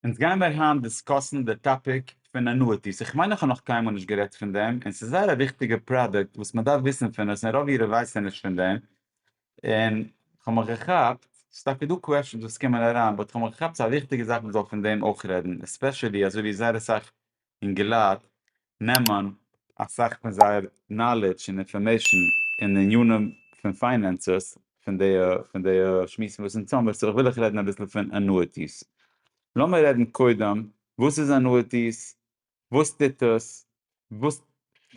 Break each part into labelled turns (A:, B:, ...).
A: אונז גיימער היינט דיסקאסן די טאפיק פון אנואיטיס, איך מיין איך האב נאך קיינמאל נישט גערעדט פון דעם, און ס'איז זייער א וויכטיגע פראדוקט וואס מען דארף וויסן פון עס, און רוב אירע ווייסן נישט פון דעם, און כ'האב מיך געכאפט, ס'איז טאקע דא קוועשאנס וואס קומען אריין, באט כ'האב מיך געכאפט ס'איז א וויכטיגע זאך מ'זאל פון דעם אויך רעדן, עספעשעלי אזויווי זייער אסאך און געלייט נעמען אסאך פון זייער נאלעדזש און אינפארמעישאן אין עניינים פון פיינענסעס פון די פון די שמועסן וואס אונז האבן סאו וויל איך רעדן אביסל פון ענואיטיס. לאמיר רעדן קודם וואס איז ענואיטיס? וואס טוט עס? וואס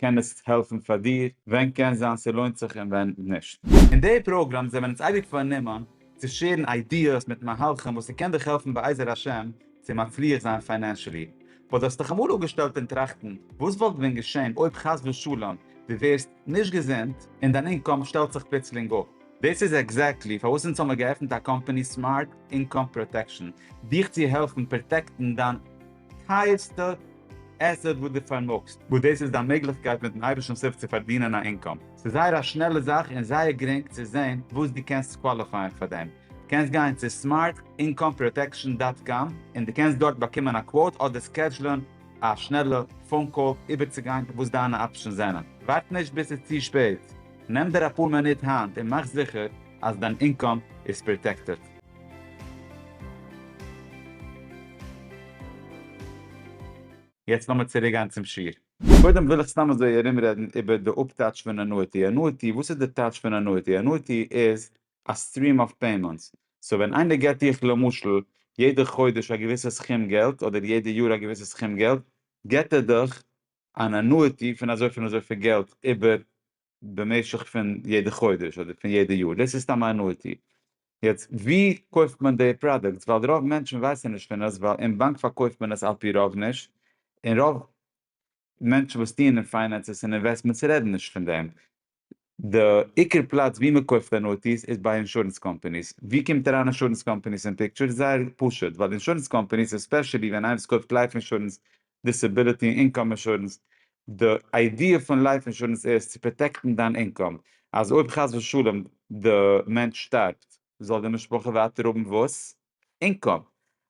A: קען עס העלפן פאר דיר, ווען קען זיין ס'לוינט זיך און ווען נישט. אין די פראגראם זעמער אונז אייביג פארנומען צו שעירן איידיעס מיט מהלכים וואס ס'קען דיך העלפן בעזר השם צו מצליח זיין פיינענשעלי. באט האסטעך אמאל אפגעשטעלט אין טראכטן וואס וואלט ווען געשען אויב חס ושלום דו ווערסט נישט געזונט און דיין אינקאם שטעלט זיך פלוצלינג אפ? דאס איז עקזעקטלי פארוואס אונז האמער געעפנט א קאמפאני סמארט אינקאם פראטעקשן, דיך צו העלפן פראטעקטן דיין. טייערסטע עסעט וואס דו פארמאגסט, וואס דאס איז דיין מעגליכקייט מיט'ן אייבערשטנ'ס הילף צו פארדינען א אינקאם. ס'איז זייער א שנעלע זאך און זייער גרינג צו זען וואס דו קענסט קוואליפייען פאר דעם. דו קענסט גיין צו סמארט אינקאם פראטעקשאן דאט קאם און דו קענסט דארט באקומען א קוואוט אדער סקעדזשלען א שנעלע פאון קאל איבערצוגיין וואס דיינע אפשענס זענען. ווארט נישט ביז ס'איז צו שפעט, נעם דיר אפאר מינוט היינט און מאך זיכער אז דיין אינקאם איז פראטעקטעד. יעצט לאמיר צוריק גיין צום שיעור. קודם וויל איך סתם אזוי ארום רעדן איבער די אפטייטש פון ענואיטי. ענואיטי, וואס איז די טייטש פון ענואיטי? ענואיטי איז א סטריעם אוו פעימענטס. סאו ווען איינער געט דיך למשל יעדע חודש א געוויסע סכום געלט, אדער יעדע יאר א געוויסע סכום געלט, געט ער דיך אן ענואיטי פון אזוי פון אזויפיל געלט איבער במשך פון יעדע חודש אדער פון יעדע יאר, דאס איז סתם א אנועיטי, יעצט ווי קויפט מען די פראדוקטס ווייל רוב מענטשן ווייסן נישט פון עס ווייל אין באנק פארקויפט מען עס על פי רוב נישט און רוב מענטשן וואס טוען אין פיינענסעס און אינוועסטמענטס רעדן נישט פון דעם, די עיקר פלאץ ווי מען קויפט אנועיטיס איז ביי אינשורענס קאמפאניס, ווי קומט אריין אינשורענס קאמפאניס אין פיקטשער, זייער פשוט ווייל אינשורענס קאמפאניס עספעשעלי ווען איינער וואס קויפט לייף אינשורענס דיסעביליטי און אינקאם אינשורענס, די איידיע פון לייף אינשורענס איז צו פראטעקטן דיין אינקאם, אז אויב חס ושלום די מענטש שטארבט זאל די משפחה ווייטער האבן וואס? אינקאם.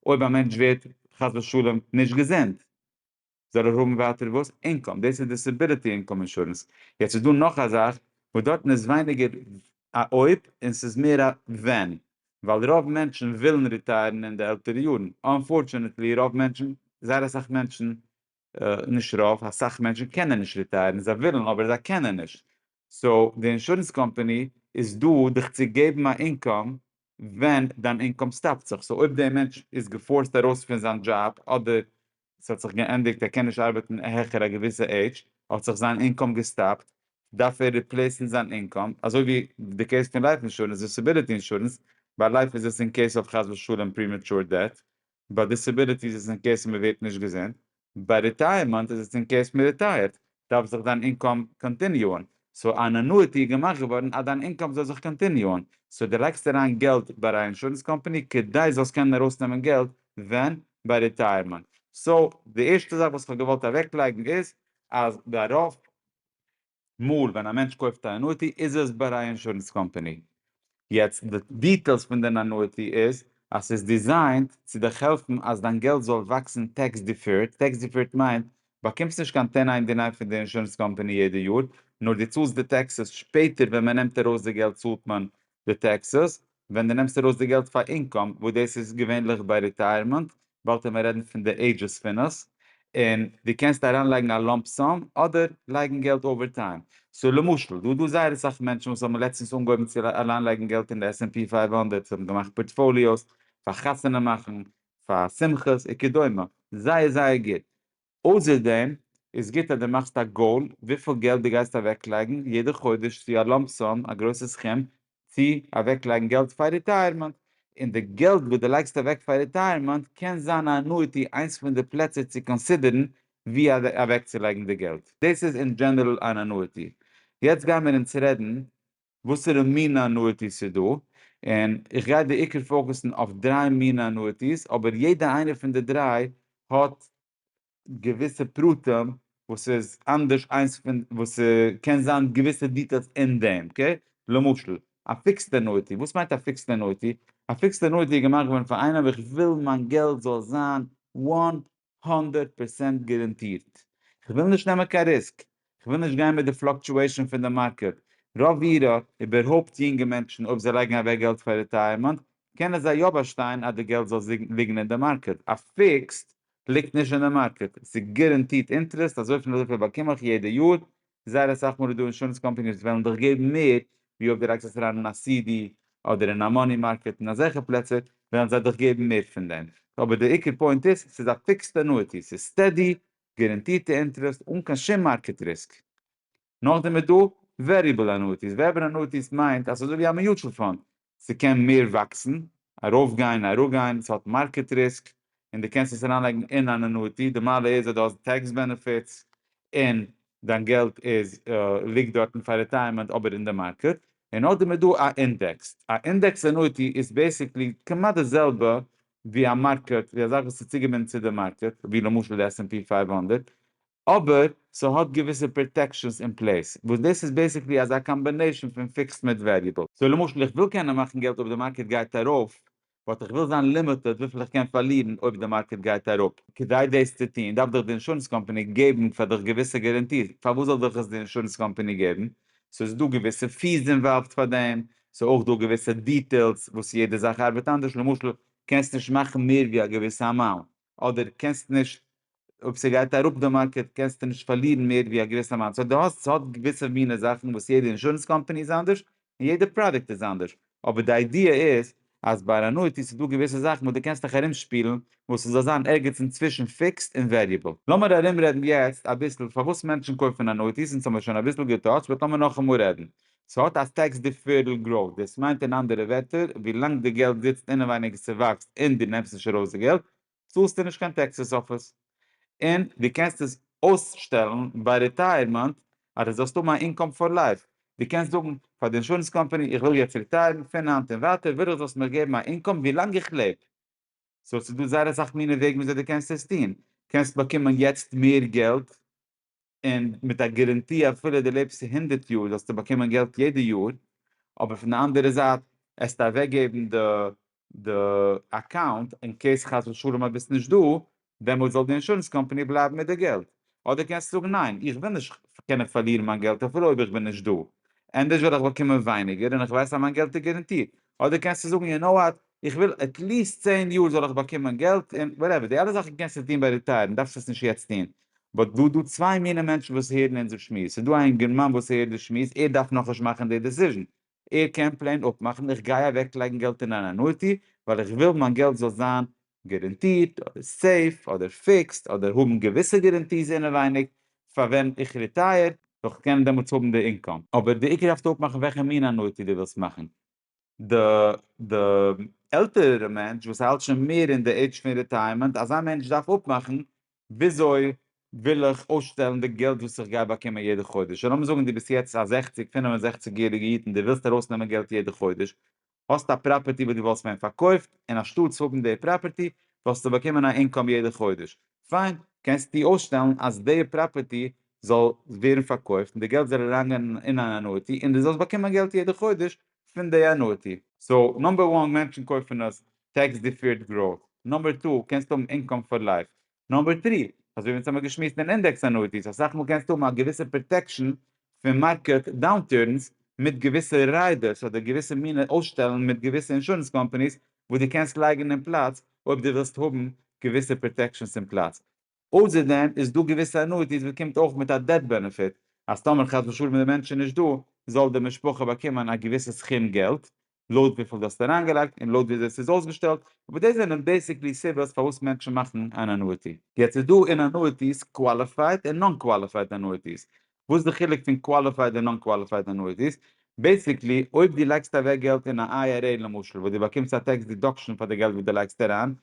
A: אויב א מענטש ווערט חס ושלום נישט געזונט זאל ער האבן ווייטער וואס? אינקאם. דאס איז דיסעביליטי אינקאם אינשורענס. יעצט איז דא נאך א זאך וואס דארטן איז ווייניגער א אויב און ס'איז מער א ווען ווייל רוב מענטשן ווילן ריטייערן אין די עלטערע יארן, אנפארטשענעטלי רוב מענטשן, זייער אסאך מענטשן, נישט רוב, אסאך מענטשן קענען נישט ריטייערן, זיי ווילן אבער זיי קענען נישט, סאו די אינשורענס קאמפאני איז דא דיך צו געבן א אינקאם ווען דיין אינקאם סטאפט זיך, סאו אויב די מענטש איז געפארסט ארויס פון זיין דזשאב אדער עס האט זיך געענדיגט ער קען נישט ארבעטן העכער א געוויסע עידזש, האט זיך זיין אינקאם געסטאפט, דארף ער ריפלעיסן זיין אינקאם, אזוי ווי די קעיס פון לייף אינשורענס, דיסעביליטי אינשורענס, ביי לייף איז עס אין קעיס אויף חס ושלום פרימעטשור דעט, ביי דיסעביליטי איז עס אין קעיס מען ווערט נישט געזונט, ביי ריטייערמענט איז עס אין קעיס מען ריטייערט, דארף זיך דיין אינקאם קאנטיניוען, סאו אן אנואיטי איז געמאכט געווארן אז דיין אינקאם זאל זיך קאנטיניוען, סאו דו לייגסט אריין געלט ביי א אינשורענס קאמפאני כדי זאלסט קענען ארויסנעמען געלט ווען? ביי ריטייערמענט. סאו די ערשטע זאך וואס כ'האב געוואלט אוועקלייגן איז אז ביי רוב מאל ווען א מענטש קויפט א אנואיטי איז עס ביי א אינשורענס קאמפאני יעצט די דיטעילס פון דער אנויטי איז אז ס'איז דיזיינט צו דיך העלפן אז דיין געלט זאל וואקסן טעקס דיפערד, טעקס דיפערד מיינט באקומסט נישט קיין טען איין דינאר פון די אינשורענס קאמפאני יעדע יאר, נאר דו צאלסט די טעקסעס שפעטער ווען מען נעמט ארויס די געלט צאלט מען די טעקסעס ווען דו נעמסט ארויס די געלט פאר אינקאם וואס דאס איז געווענליך ביי ריטייערמענט וואלטען מיר רעדן פון די עידזשעס פון עס, און דו קענסט אריין לייגן א לאמפ סאם אדער לייגן געלט אווער טיים, סאו למשל דא איז דא זייער אסאך מענטשן וואס האבן לעצטענס אנגעהויבן צו אריין לייגן געלט אין די עס ענד פי פֿינף הונדערט, זיי האבן געמאכט פארטפאליאוס פאר חתונה מאכן, פאר שמחות, וכדומה, זייער זייער גוט, אויסער דעם איז גוט אז דו מאכסט א גאול וויפיל געלט דו גייסט אוועקלייגן יעדע חודש צו א לאמפ סאם א גרויסע סכום צו אוועקלייגן געלט פאר ריטייערמענט, און די געלט וואס דו לייגסט אוועק פאר ריטייערמענט קען זיין א אנואיטי איינס פון די פלעצער צו קאנסידערן ווי אוועקצולייגן די געלט, דאס איז אין דזשענעראל אן אנואיטי. יעצט גיימיר אונז רעדן וואסערע מינע אנויטיס ס'איז דא, און איך גיי בעיקר פאוקעסן אויף דריי מינע אנויטיס, אבער יעדע איינע פון די דריי האט געוויסע פרטים וואס איז אנדערש איינס פון, וואס ס'קען זיין געוויסע דיטעילס אין דעם, אקעי? למשל, א פיקסד אנויטי, וואס מיינט א פיקסד אנויטי? א פיקסד אנויטי איז געמאכט געווארן פאר איינעם, איך וויל מיין געלט זאל זיין וואן הונדערט פראצענט גאראנטירט. כ'וויל נישט נעמען קיין ריסק, כ'וויל נישט גיין מיט די פלאקטשועישאן פון די מארקעט. רוב אירע, איבערהויפט יונגע מענטשן, אויב זיי לייגן אוועק געלט פאר ריטייערמענט, קענען זיי יא באשטיין אז די געלט זאל ליגן אין די מארקעט. א פיקסד ליגט נישט אין די מארקעט. ס'איז גאראנטירט אינטערעסט, אזויפיל און אזויפיל באקום איך יעדע יאר, זייער אסאך מאל איז דא אינשורענס קאמפעניס וואס וועלן דיך געבן מער ווי אויב די לייגסט עס אריין אין א סי די אדער אין א מאני מארקעט און אזעלכע פלעצער וועלן זיי דיך געבן מער פון דעם אבער די עיקר פוינט איז ס'איז א פיקסד אנואיטי ס'איז סטעדי גאראנטירטע אינטערעסט אן קיין שום מארקעט ריסק. נאכדעם איז דא וועריעבל אנואיטיס וועריעבל אנואיטיס מיינט אז ס'איז אזויווי א מיוטשעל פאנד ס'קען מער וואקסן, ארויף גיין, אראפ גיין, ס'האט מארקעט ריסק, און די קענסט עס אריינלייגן אין אן אנויטי, די מעלה איז אז די האסט טעקס בענעפיטס, און דיין געלט איז ליגט דארטן פאר רעטייערמענט אבער אין די מארקעט, און אויסדעם איז דא א אינדעקס, א אינדעקס אנויטי איז בעסיקלי כמעט די זעלבע ווי א מארקעט, ווי א זאך וואס איז צוגעבינדן צו די מארקעט, ווי למשל די עס ענד פי פֿינף הונדערט, אבער ס'האט געוויסע פראטעקשענס אין פלעיס, וואס דאס איז בעיסיקלי אזא קאמבענעישן פון פיקסד מיט וועריעבל. סאו למשל איך וויל קענען מאכן געלט אויב די מארקעט גייט ארויף, באט איך וויל זיין לימיטעד וויפיל איך קען פארלירן אויב די מארקעט גייט אראפ. כדי דאס צו טון דארף דיך די אינשורענס קאמפאני געבן פאר דיך געוויסע גאראנטיס, פארוואס זאל דיך עס די אינשורענס קאמפאני געבן? ס'איז דא געוויסע פיס אינוואלווד פאר דעם, ס'איז אויך דא געוויסע דיטעילס וואס יעדע זאך ארבעט אנדערש, למשל קענסט נישט מאכן מער ווי א געוויסע אמאונט, אדער קענסט נישט אויב ס'גייט אראפ די מארקעט קענסטו נישט פארלירן מער ווי א געוויסע אמאונט, סאו דו האסט ס'האט געוויסע מינע זאכן וואס יעדע אינשורענס קאמפאני איז אנדערש און יעדע פראדוקט איז אנדערש, אבער די איידיע איז אז ביי אן אנויטי איז דא געוויסע זאכן וואס דו קענסט דיך ארומשפילן וואס ס'זאל זיין ערגעץ אינצווישן פיקסד און וועריעבל. לאמיר ארומרעדן יעצט אביסל פארוואס מענטשן קויפן אנויטיס, אונז האמיר שוין אביסל געטאטשט באט לאמיר נאכאמאל רעדן, ס'האט א טעקס דיפערעל גראוט, דאס מיינט אין אנדערע ווערטער, ווילאנג די געלט זיצט אינעווייניג ס'וואקסט און דו נעמסט נישט ארויס די געלט, צאלסטו נישט קיין טעקסעס אויף עס. און דו קענסט עס אויסשטעלן ביי רעטייערמענט אז דו זאלסט האבן א אינקאם פאר לייף. דו קענסט זאגן פאר די אינשורענס קאמפאני איך וויל יעצט רעטייערן, פון היינט און ווייטער וויל איך זאלסט מיר געבן א אינקאם ווילאנג איך לעב. סאו ס'דא זייער אסאך מינע וועגן וויאזוי דו קענסט עס טון. קענסט באקומען יעצט מער געלט. און מיט א גאראנטי אפילו דו לעבסט הונדערט יאר זאלסטו באקומען געלט יעדע יאר, אבער פון די אנדערע זייט עסטו אוועקגעבן די די אקאונט אין קעיס חס ושלום אז ביסט נישט דא, דעמאלטס זאל די אינשורענס קאמפאני בלייבן מיט די געלט. אדער קענסטו זאגן ניין, איך וויל נישט קענען פארלירן מיין געלט אפילו אויב איך בין נישט דא, ענדערש וועל איך באקומען ווייניגער און איך ווייס אז מיין געלט איז גאראנטירט. אדער קענסטו זאגן יו נאו וואט, איך וויל עטליסט צען יאר זאל איך באקומען געלט, און וואטעווער, די אלע זאכן קענסטו טון ביי ריטייערן, דארפסט עס נישט יעצט טון. באט דא דא צוויי מינע מענטשן וואס הערן אונזער שמועס, ס'איז דא א אינגערמאן וואס הערט די שמועס, ער דארף נאכנישט מאכן די דעסיזשן, ער קען פלעין אפמאכן איך גיי אוועקלייגן געלט אין אן אנויטי, ווייל איך וויל מיין געלט זאל זיין גערענטירט אדער סעיף אדער פיקסד אדער האבן געוויסע גערענטיס אינעווייניג פאר ווען איך ריטייער וועל איך קענען דעמאלטס האבן די אינקאם. אבער די עיקר דארפסטו אפמאכן וועלכע מין אנויטי די ווילסט מאכן. די די עלטערערע מענטש וואס האלט שוין מער אין די עידזש פון ריטייערמענט אזא מענטש דארף אפמאכן וויאזוי וויל איך אויסשטעלן די געלט וואס איך גיי באקומען יעדע חודש? לאמיר זאגן דו ביסט יעצט א זעכציג פינף און זעכציג יעריגע איד און דו ווילסט ארויסנעמען געלט יעדע חודש, האסט א פראפערטי וואס דו וואלסט ווען פארקויפט און אנשטאטס האבן די פראפערטי וואלסטו באקומען א אינקאם יעדע חודש, פיין, קענסטו אויסשטעלן אז די פראפערטי זאל ווערן פארקויפט און די געלט זאל אריינגיין אין אן ענועטי און דו זאלסט באקומען געלט יעדע חודש פון די ענועטי. סאו נאמבער וואן מענטשן קויפן עס טעקס דיפעירד גראוט, נאמבער טו קענסטו האבן אינקאם פאר לייף, נאמבער טרי אזוי ווי אונז האמיר געשמועסט אין אינדעקס ענועטיס אסאך מאל קענסטו האבן א געוויסע פראטעקשן פון מארקעט דאונטורנס מיט געוויסע ריידערס אדער געוויסע מינע אויסשטעלן מיט געוויסע אינשורענס קאמפאניס וואס דו קענסט לייגן אין פלאץ אויב דו ווילסט האבן געוויסע פראטעקשנס אין פלאץ אויסער דעם איז דא געוויסע אנויטיס וואס קומט אויך מיט א דעט בענעפיט, אז טאמער חס ושלום די מענטש איז נישט דא, זאל די משפחה באקומען א געוויסע סכום געלט, לויט וויפיל דו האסט אריינגעלייגט און לויט וויאזוי עס איז אויסגעשטעלט, אבער דאס זענען בעיסיקלי סיבות פארוואס מענטשן מאכן אן אנויטי. יעצט איז דא אין אנויטיס קוואליפייד און נאן קוואליפייד אנויטיס, וואס די חילוק פון קוואליפייד און נאן קוואליפייד אנויטיס, בעיסיקלי אויב דו לייגסט אוועק געלט אין א איי אר עי למשל וואס דו באקומסט א טעקס דידאקשען פאר די געלט וואס דו לייגסט אריין,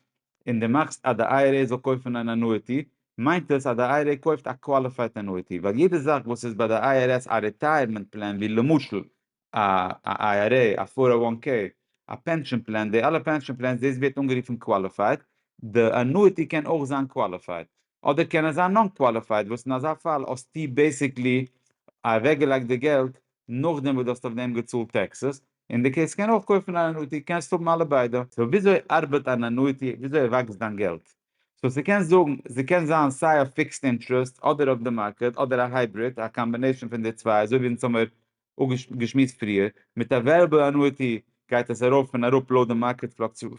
A: און דו מאכסט אז די איי אר עי זאל קויפן אן אנויטי, מיינט עס אז די איי אר עי קויפט א קוואליפייד אנויטי, ווייל יעדע זאך וואס איז ביי די איי אר עס א ריטייערמענט פלען ווי למשל א IRA, א פֿאָר אַו װאַן קעי, א פענשאן פלען, די אלע פענשאן פלענס דאס ווערט אנגערופן קוואליפייד, די אנואיטי קען אויך זיין קוואליפייד, אדער קען עס זיין נאן קוואליפייד, וואס אין אזא פאל האסטו בעיסיקלי אוועקגעלייגט די געלט נאכדעם וואס דו האסט אויף דעם געצאלט טעקסעס, און דו קענסט קען אויך קויפן אן אנואיטי, קענסט האבן אלע ביידע. סאו וויאזוי ארבעט אן אנואיטי, וויאזוי וואקסט דיין געלט? סאו ס'קען זאגן, ס'קען זיין סיי אויף פיקסד אינטערעסט, אדער אויף די מארקעט, אדער א הייבריד, א קאמבינעישאן פון די צוויי, אזוי ווי אין זומער געשמועסט פריער, מיט א וועריעבל אנואיטי גייט עס ארויף און אראפ לויט די מארקעט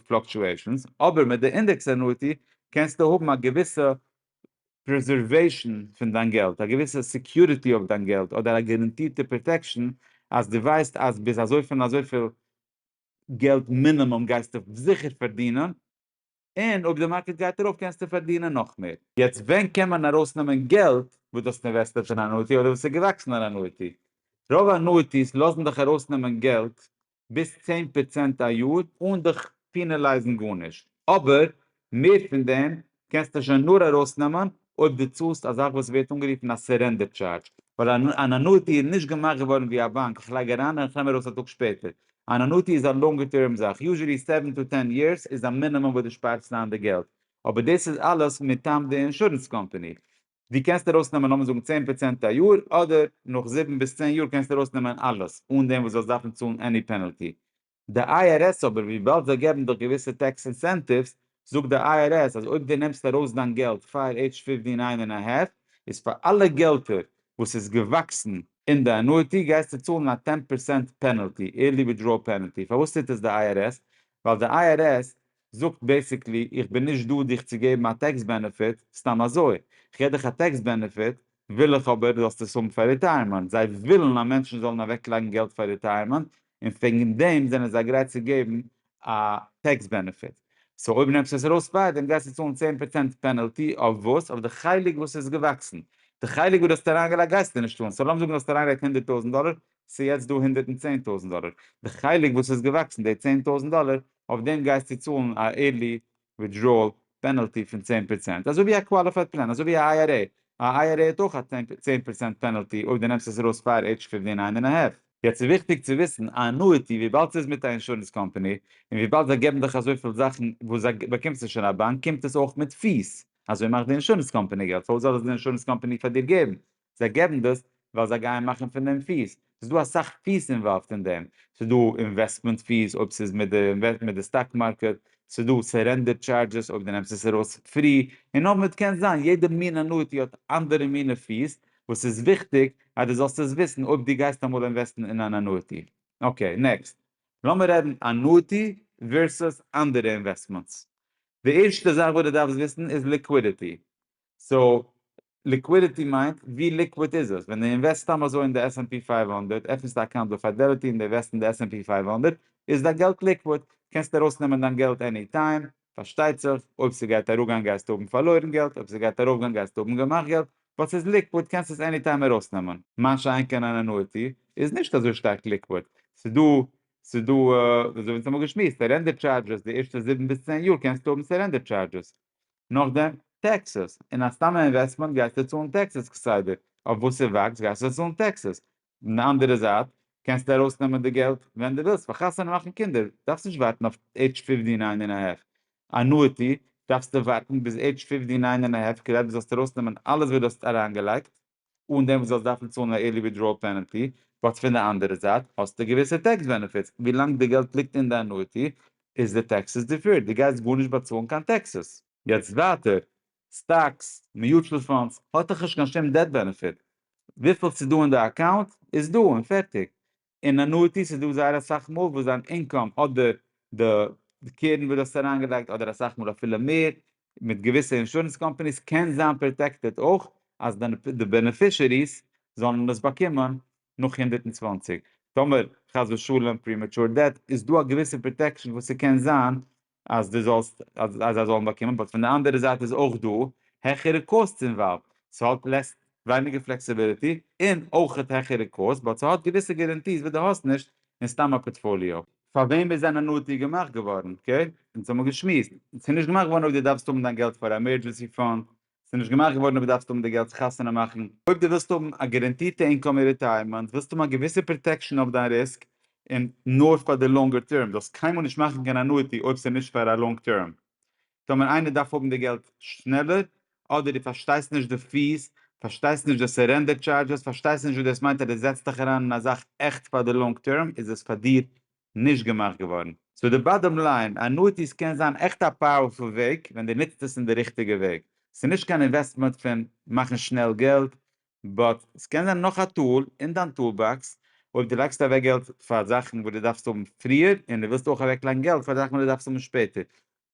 A: פלאקטשועישאנס, אבער מיט די אינדעקס אנואיטי קענסטו האבן א געוויסע פרעזערוועישאן פון דיין געלט, א געוויסע סעקיוריטי אויף דיין געלט, אדער א גאראנטירטע פראטעקשאן אז דו ווייסט אז ביז אזויפיל און אזויפיל געלט מינימום גייסטו זיכער פארדינען. און אויב די מארקעט גייט ארויף קענסטו פארדינען נאך מער. יעצט ווען קען מען ארויסנעמען געלט וואס דו האסט אינוועסטעט אין אנויטי אדער וואס איז געוואקסן אין אנויטי? רוב אנויטיס לאזן דיך ארויסנעמען געלט ביז צען פראצענט א יאר אן דיך פענעלייזן גארנישט, אבער מער פון דעם קענסטו שוין נאר ארויסנעמען אויב דו צאלסט א זאך וואס ווערט אנגערופן א סערענדער טשארדזש, ווייל אן אנויטי איז נישט געמאכט געווארן ווי א באנק איך לייג אריין און איך נעם ארויס א טאג שפעטער, אן אנויטי איז א לאנגע טערם זאך, יוזשעלי סעווען טו טען יערס איז א מינימום וואס דו שפארסט איין די געלט, אבער דאס איז אלעס מטעם די אינשורענס קאמפאני, דו קענסט ארויס נעמען לאמיר זאגן צען פראצענט א יאר, אדער נאך זיבן ביז צען יאר קענסטו ארויס נעמען אלעס, אן דעם וואס זאלסט דארפן צאלן עני פענעלטי, די איי אר עס אבער וויבאלד זיי געבן דאך געוויסע טעקס אינסענטיווס זאגט די איי אר עס אז אויב דו נעמסט ארויס דיין געלט פאר עידזש פיפטי ניין און א האלף איז פאר אלע געלטער וואס איז געוואקסן אין די ענואיטי גייסטו צאלן א טען פערסענט פענעלטי, עירלי וויטדראול פענעלטי, פארוואס טוט עס די איי אר עס? ווייל די איי אר עס זאגט בעסיקלי איך בין נישט דא דיך צו געבן א טעקס בענעפיט סתם אזוי, איך געב דיך א טעקס בענעפיט וויל איך אבער זאלסט עס האבן פאר ריטייערמענט, זיי ווילן אז מענטשן זאלן אוועק לייגן געלט פאר ריטייערמענט און וועגן דעם זענען זיי גרייט צו געבן א טעקס בענעפיט, סאו אויב נעמסטו עס ארויס פאר דעם גייסטו צאלן צען פראצענט פענעלטי אויף וואס? אויף די חלק וואס איז געוואקסן, די חלק וואס דו האסט אריינגעלייגט גייסטו נישט צאלן, סאו לאמיר זאגן דו האסט אריינגעלייגט הונדערט טויזנט דאלער ס'איז יעצט דא הונדערט און צען טויזענט דאלער, די חלק וואס איז געוואקסן די צען טויזענט דאלער, אויף דעם גייסטו צאלן א עירלי וויטדראעל פענעלטי פון צען פראצענט, אזוי ווי א קוואליפייד פלען, אזוי ווי א איי אר עי, א איי אר עי האט אויך א צען פראצענט פענעלטי אויב דו נעמסט עס ארויס פאר עידזש פיפטין איין און א האלף. יעצט איז וויכטיג צו וויסן, א אנואיטי וויבאלד ס'איז מיט א אינשורענס קאמפאני, און וויבאלד זיי געבן דיך אזויפיל זאכן וואס זיי באקומסט נישט אין א באנק, קומט עס אויך מיט פיס, אזוי מאכט די אינשורענס קאמפאני געלט, פארוואס זאל עס די אינשורענס קאמפאני פאר דיר געבן? זיי געבן דאס ווייל זיי גייען מאכן פון דעם פיס, ס'איז דא אסאך פיס אינוואלווד אין דעם, ס'איז דא אינוועסטמענט פיס אויב ס'איז מיט די מיט די סטאק מארקעט, ס'איז דא סערענדער טשארדזשעס אויב דו נעמסט עס ארויס פרי, און אויב מיט קען זיין יעדע מין אנואיטי האט אנדערע מינע פיס, וואס ס'איז וויכטיג אז דו זאלסט עס וויסן אויב דו גייסט אמאל אינוועסטן אין אן אנואיטי. אקעי, נעקסט. לאמיר רעדן אנואיטי ווערסוס אנדערע אינוועסטמענטס. די ערשטע זאך וואס דו דארפסט וויסן איז ליקווידיטי. סאו ליקווידיטי מיינט ווי ליקוויד איז עס? ווען די אינוועסט סתם אזוי אין די עס ענד פי פייוו הונדערט, עפנסט א אקאונט ביי פיידעליטי און די אינוועסט אין די עס ענד פי פייוו הונדערט, איז דיין געלט ליקוויד, קענסט ארויס נעמען דיין געלט עני טיים, פארשטייט זיך אויב ס'גייט אראפגיין גייסטו האבן פארלוירן געלט, אויב ס'גייט ארויפגיין גייסטו האבן געמאכט געלט, באט ס'איז ליקוויד קענסט עס עני טיים ארויס נעמען. מה שאין כן אן ענואיטי איז נישט אזוי שטארק ליקוויד, ס'איז דא ס'איז דא אזוי ווי אונז האבן געשמועסט סערענדער טשארדזשעס די ערשטע זיבן ביז צען יאר קענסטו האבן סערענדער טשארדזשעס, נאכדעם טעקסעס, און א סתם אינוועסטמענט גייסטו צאלן טעקסעס כסדר, אויף וואס ס'וואקסט גייסטו צאלן טעקסעס, פון די אנדערע זייט קענסטו ארויסנעמען די געלט ווען דו ווילסט פאר חתונה און מאכן קינדער, דארפסט נישט ווארטן אויף עידזש פֿופֿטי נײַן און א האלף, אנואיטי דארפסטו ווארטן ביז עידזש פֿופֿטי נײַן און א האלף כדי דו זאלסט ארויסנעמען אלעס וואס דו האסט אריינגעלייגט. אן דעם וואס זאלסט דארפן צאלן א ערלי ווידראל פענעלטי, באט פון די אנדערע זייט האסטו געוויסע טעקס בענעפיטס, ווי לאנג די געלט ליגט אין די אנויטי איז די טעקסעס דיפערד, די גייסט גארנישט באצאלן קיין טעקסעס. יעצט ווייטער, סטאקס, מיוטשעל פאנדס, האט דאך נישט קיין שום דעט בענעפיט, וויפיל ס'איז דא אין די אקאונט איז דא און פערטיג, און אנויטיס איז דא זייער אסאך מאל וואס דיין אינקאם אדער די קרן וואס דו האסט אריינגעלייגט אדער אסאך מאל אפילו מער מיט געוויסע אינשורענס קאמפאניס קען זיין פראטעקטעד אויך אז די בענעפישעריס זאלן עס באקומען נאך הונדערט און צוואַנציק טאמער חס ושלום פרימעטשור דעט איז דא א געוויסע פראטעקשן וואס ס'קען זיין אז דו זאלסט אז זיי זאלן באקומען באט פון די אנדערע זייט איז אויך דא העכערע קאוסטס אינוואלווד ס'האט לעסס ווייניגער פלעקסיביליטי און אויכעט העכערע קאוסט באט ס'האט געוויסע גערענטיס וואס דו האסט נישט אין סתם א פארטפאליאו. פאר וועם איז אן אנויטי געמאכט געווארן? אקעי, אונז האבן געשמועסט, ס'איז נישט געמאכט געווארן אויב דו דארפסט האבן דיין געלט פאר א עמערדזשענסי פאנד, ס'איז נישט געמאכט געווארן אויב דארפסטו האבן די געלט צו חתונה מאכן. אויב דו ווילסט האבן א גערענטירטע אינקאם אין ריטייערמענט, ווילסטו האבן א געוויסע פראטעקשאן אויף דיין ריסק און נאר פאר די לאנגע טערם. דו זאלסט קיינמאל נישט מאכן קיין אנואיטי אויב ס'איז נישט פאר א לאנג טערם. טאמער איינער דארף האבן די געלט שנעלער, אדער דו פארשטייסט נישט די פי'ס, פארשטייסט נישט די סערענדער טשארדזשעס, פארשטייסט נישט וואס דאס מיינט אז דו זעצט דיך אריין אין א זאך עכט פאר די לאנג טערם, איז עס פאר דיר נישט געמאכט געווארן. סאו די באדאם ליין, אנואיטיס קען זיין עכט א פאוערפול וועג ווען די ניצט עס אין די ריכטיגע וועג. סאיז נישט קיין אינוועסטמענט פון מאכן שנעל געלט, באט סקען זיין נאך א טול אין דיין טול באקס אויב די לייגסט אוועק געלט פאר זאכן וואס די דארפסט האבן פריער און די ווילסט אויך אוועקלייגן געלט פאר זאכן וואס די דארפסט האבן שפעטער.